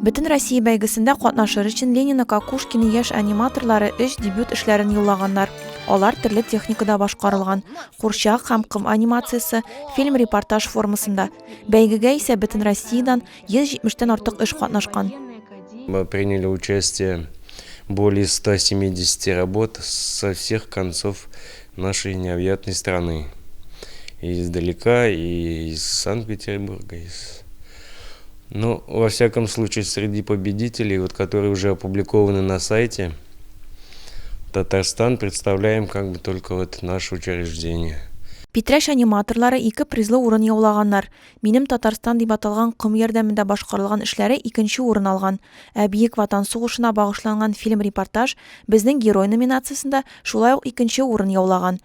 Бөтенроссия бәйгесендә катнашыр өчен Ленина Кокушкина яшь аниматорлары өч дебют эшләрен юллаганнар. Алар төрле техникада башкарылган, курчак һәм ком анимациясе, фильм-репортаж формасында. Бәйгегә исә Бөтенроссиядән 170-тән артык эш катнашкан. Мы приняли участие более 170 работ со всех концов нашей необъятной страны. И издалека, и из Санкт-Петербурга, из Ну, во всяком случае, среди победителей, вот, которые уже опубликованы на сайте, Татарстан представляем как бы только вот наше учреждение. Питрәч аниматорлары ике призлы урын яулаганнар. Минем Татарстан дип аталган ком ярдәмендә башкарылган эшләре икенче урын алган. Ә Биек Ватан сугышына багышланган фильм-репортаж безнең герой номинациясендә шулай ук икенче урын яулаган.